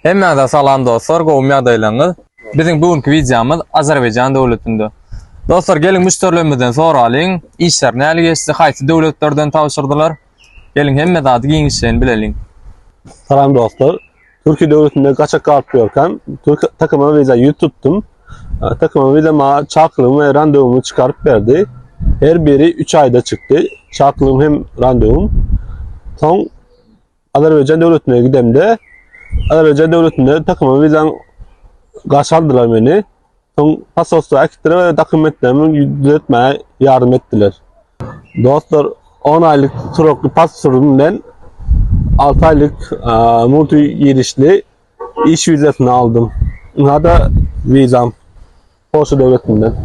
Hemmäňize salam dostlar gowmy ýagdaýlaryňyz biziň bu günki wideomyz Azerbaýjan döwletinde dostlar geliň müşderilerimizden soralyň işler näli geçdi haýsy döwletlerden tabşyrdylar geliň hemme zady giňişleýin bileliň. Salam dostlar Türkiýe döwletinde gaçak galyp ýörkäm Türk takyma wiza ýüz tutdum takyma wiza maňa çakylygymy we randewumy çykaryp berdi her biri üç aýda çykdy çakylygymy hem randewum soň Azerbaýjan döwletine gidemde, Azerbaýjan döwletinde takyma wizam garşy aldylar meni. Soň pasporty äkitdiler we dokumentlerimi düzetmäge ýardam etdiler. Dostlar, 10 aýlyk turakly pasportym bilen 6 aýlyk multi girişli iş wizasyny aldym. Ynha-da wizam. Polşa döwletinden.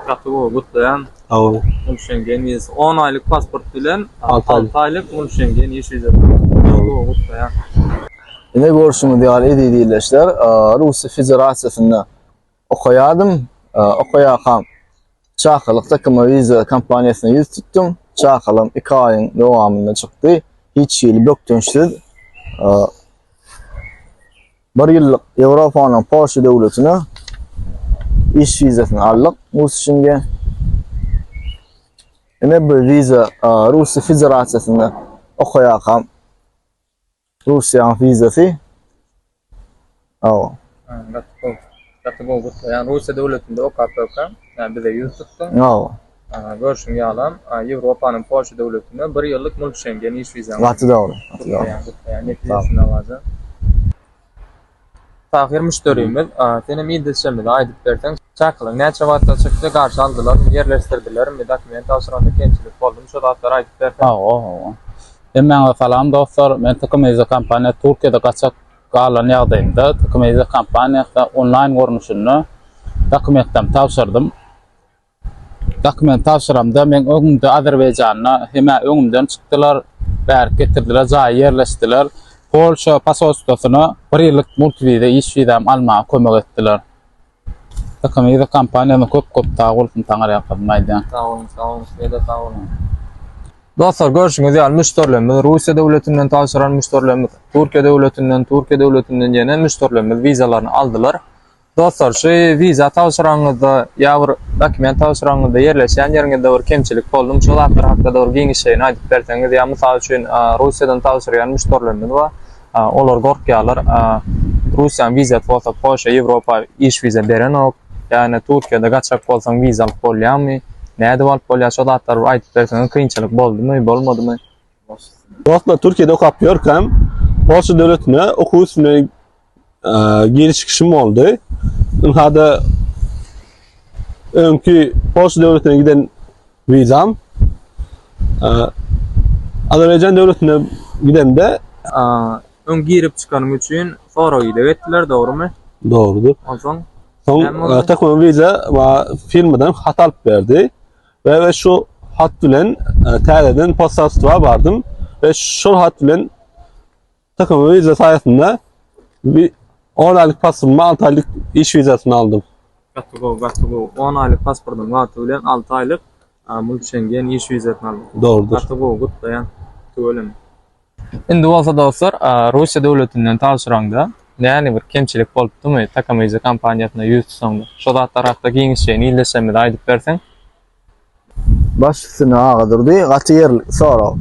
Gaty gowy, gutlaýan. Sag bol. Ol Şengen wizasy. On aýlyk pasport bilen Alty aýlyk. alty aýlyk ol Şengen iş wizasy. Gaty gowy, gutlaýan. Ine görşüňiz ýaly eziz ildeşler, Russiýa Federasiýasynda okaýardym, okaýarkam Çakylyk Takuma Visa kompaniýasyna ýüz tutdum, çakylygym iki aýyň dowamynda çykdy, hiç hili bökdençsiz. Bir ýyllyk Ýewropanyň Polşa döwletine iş wizasyny aldyk Musişinge. Ine bu wiza Russiýa Federasiýasynda okaýarkam Russiýanyň wizasy. Aw. Gaty gowy. Gaty gowy gutla ýan Russiýa döwletinde okap bökän ýa bize ýüz tutdyň. Ýa o. Görşüň ýalam Ýewropanyň Polşa döwletinde bir ýyllyk mul Şengen iş wizaň. Gaty dogry. Gaty dogry. Gutlaýan gutlaýan netijesi alajan. Tahyr müşderimiz sen hem idilşemizi aýdyp berseň çakylyk näçe wagtda çykdy garşy aldylarmy ýerleşdirdilermi dokument tabşyranda kemçilik boldumy şu zatlary aýdyp berseň. Hawa hawa. Hemmäňize salam dostlar men Tykymyzy kompaniýasy Türkiýede gaçak Galan ýagdaýynda Tokimeza kompaniýasy onlaýn görnüşinde dokumentlem tabşyrdym. Dokument tabşyramda meň öňümde Azerbaýjanda hemä öňümden çykdylar, bärik getirdiler, jaýa ýerleşdiler. Polşa posolstwosyna bir ýyllyk multiwiza iş wizam almaga kömek etdiler. Ykymyzy kompaniýadan köp köp sag bolsun Taňar ýalkasyn aýdýan. Sag boluň sag boluň sizede sag boluň. Dostlar görşüňiz ýaly müşderilerimiz Russiýa döwletinden tabşyran müşderilerimiz Türkiýe döwletinden Türkiýe döwletinden ýene müşderilerimiz wizalaryny aldylar. Dostlar şu wiza tabşyranyňyzda ýa bir dokument tabşyranyňyzda ýerleşýän ýeriňizde bir kemçilik boldumy şu zatlar hakda-da bir giňişleýin aýdyp berseňiz ýa mysal üçin Russiýadan tabşyrýan müşderilerimiz bar Olar gorkýarlar. Russiýanyň wizasy bolsa Polşa, Ýewropa iş wiza berenok. Ýagny Türkiýede gaçak bolsaň wiza alyp bolýamy? Nädip alyp bolýar? Şo zatlary bir aýdyp berseňiz kynçylyk boldumy, bolmadymy? Dostlar Türkiýede okap ýörkäm Polşa döwletine okuw üstüne Geri çykyşym boldy. Ynhada öňki Polşa döwletine giden wizam Azerbaýjan döwletine gidende öň girip çykanym üçin sorag ýylyk etdiler, dogrumy? Dogrudyr. Onsoň Soň Takman Viza we firmadan hat alyp berdi we şu hat bilen täzeden postatwa bardym we şol hat bilen Takım vize sayesinde bir 10 aylık pasport, 6 aylık iş vizasını aldım. Gaty gowy, gaty gowy. 10 aýlyk pasportyň wagty bilen 6 aýlyk a, mul Şengen iş wizasyny aldyk. Doğrudur. Gaty gowy, gutlaýan. Tüweleme. Indi bolsa dostlar, a, Russiýa döwletinden tabşyraňda näni bir kemçilik bolupdymy Takamize kompaniýasyna ýüz tutsaňda? Şo zatlar hakda giňişleýin ildeşlerimize aýdyp berseň. Baş üstüne aga durdy. Gaty ýerlikli sorag.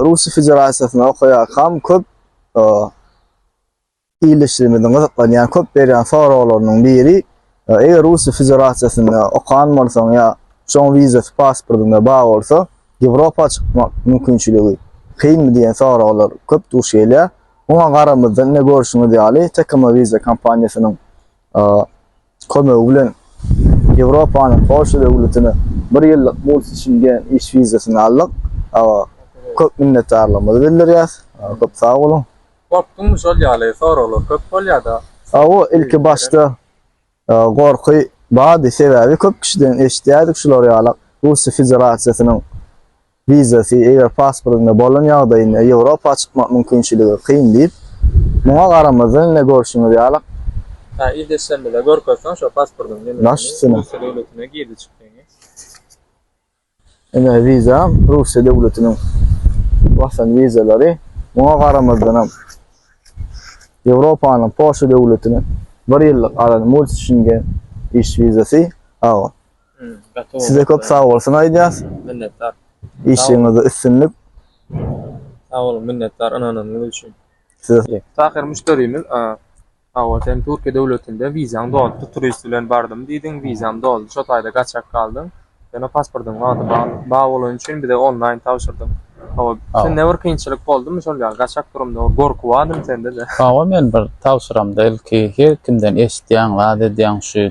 Russiýa Federasiýasynda okaýarkam köp ildeşlerimiziň gyzyklanýan, köp berýän soraglarynyň biri, eger Russiýa Federasiýasynda okan bolsaň ýa şoň wizasy pasportyňda bar bolsa, Ýewropa çykmak mümkinçiligi kynmy diýen soraglar köp duş gelýär. Muňa garamazdan ine görşüňiz ýaly Tecoma Visa kompaniýasynyň kömegi bilen Ýewropanyň Polşa döwletine bir ýyllyk multiçingen iş wizasyny aldyk. Köp minnetdarlygymyzy bildirýäs. Köp sag boluň. Gorkduňmy şol ýaly soraglar köp bolýada. Hawa ilki başda gorky bardy sebäbi köp kişiden eşidýärdik şular ýalak Russiýa Federasiýasynyň Wizasy, eger pasportyňda bolan ýagdaýynda Ýewropa çykmak mümkinçiligi kyn diýip, muňa garamazdan ine görşüňiz ýaly, Hä il desem bile görkezseň şo pasportyň ýene Baş seni üstüne. Russiýa döwletine girdi çykdyňy. Ine wiza Russiýa döwletiniň basan wizalary muňa garamazdanam Ýewropanyň Polşa döwletiniň bir ýyllyk alan Multschingen iş wizasy, aw, Size köp sag bolsun aýdýas. Minnetdar. Işiňizde üstünlik. Sag boluň, minnetdar ynanynyz üçin. Size. Tahyr müşderimiz, hawa sen Türkiýe döwletinde wizaň dolupdy, turist bilen bardym diýdiň, wizaň doldy, şo taýda gaçak galdyň. Ýöne pasportyň wagty bar bolany üçin bize onlaýn tabşyrdyň. Hawa, sende bir kynçylyk boldumy şol ýaly gaçak durumda bir gorky bardymy sende-de? Hawa men bir tabşyramda ilki her kimden eşitýäň, zat edýäň şu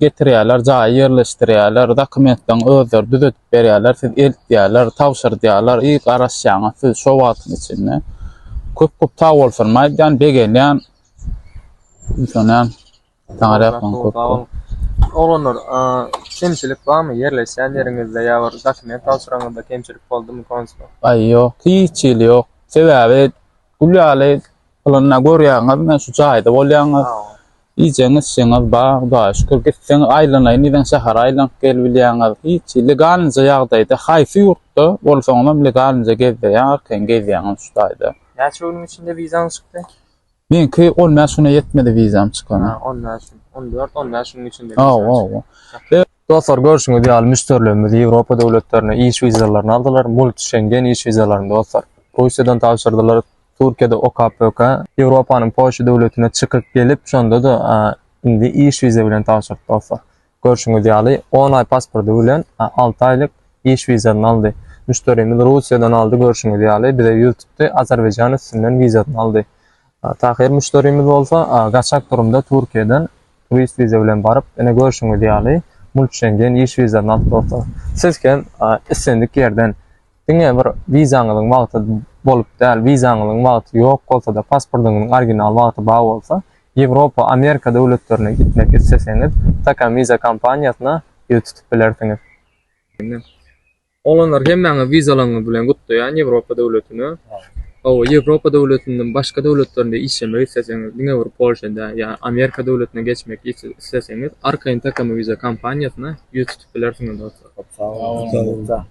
getirýärler, jaýa ýerleşdirýärler, dokumentleň özleri düzedip berýärler, siz eltýärler, tabşyrdýarlar, iý garaşýaňyz siz şo wagtyň içinde. Köp köp sag bolsunymy aýdýan, begenýän. Düşünýän. Saňa rähmem köp. Sag boluň. Oglanlar, kemçilik barmy ýerleşýän ýeriňizde ýa bir dokument tabşyranyňyzda kemçilik boldumy konsul? Aý ýok, hiç hili ýok. Sebäbi gül ýaly pylanyna görýäňizmi şu jaýda bolýaňyz. Iýjegiňiz içjegiňiz bar hudaýa şükür gitseňiz aýlanaýyn diýseň şähere aýlanyp gelbilýäňiz hiç legalnyja ýagdaýda haýsy ýurtda bolsaňyzam legalnyja gezdirýär arkaýyn gezýäňiz şu taýda. Näçe günüň içinde wizaň çykdy? Meňki on bäş güne ýetmedi wizam çykana. Ha on bäş gün on dört on bäş günüň içinde wizam çykdy. Hawa hawa. Dostlar görşüňiz ýaly müşderilerimiz Ýewropa döwletlerine iş wizalaryny aldylar, multi şengen iş wizalaryny dostlar. Russiýadan tabşyrdylar, Türkiýede OKPK, Ýewropanyň Polşa döwletine çykyp gelip, şonda-da indi iş wiza bilen tabşyrdy dostlar. Görşüňiz ýaly, on aý pasporty bilen alty aýlyk iş wizasyny aldy. Müşderimiz Russiýadan aldy, görşüňiz ýaly, bize ýüz tutdy, Azerbaýjan üstünden wizasyny aldy. Tahyr müşderimiz bolsa, gaçak durumda Türkiýeden turist wiza bilen baryp, ine görşüňiz ýaly, multşengen iş wizasyny alyp dostlar. Siz hem islendik ýerden Diňe bir wizaňyzyň wagty bolup däl, wizaňyzyň wagty ýok bolsa-da, pasportyňyzyň original wagty bar bolsa, Ýewropa, Amerika döwletlerine gitmek isleseňiz, Takamwiza kompaniýasyna ýüz tutup bilersiňiz. Ine, oglanlar hemmäňizi wizalaryňyz bilen gutlaýan Ýewropa döwletine. Hawa, Ýewropa döwletinden başga döwletlerinde işlemek isleseňiz, diňe bir Polşa däl, ýa Amerika döwletine geçmek isleseňiz, arkaýyn Takamwiza kompaniýasyna ýüz tutup bilersiňiz dostlar. Köp sag boluň.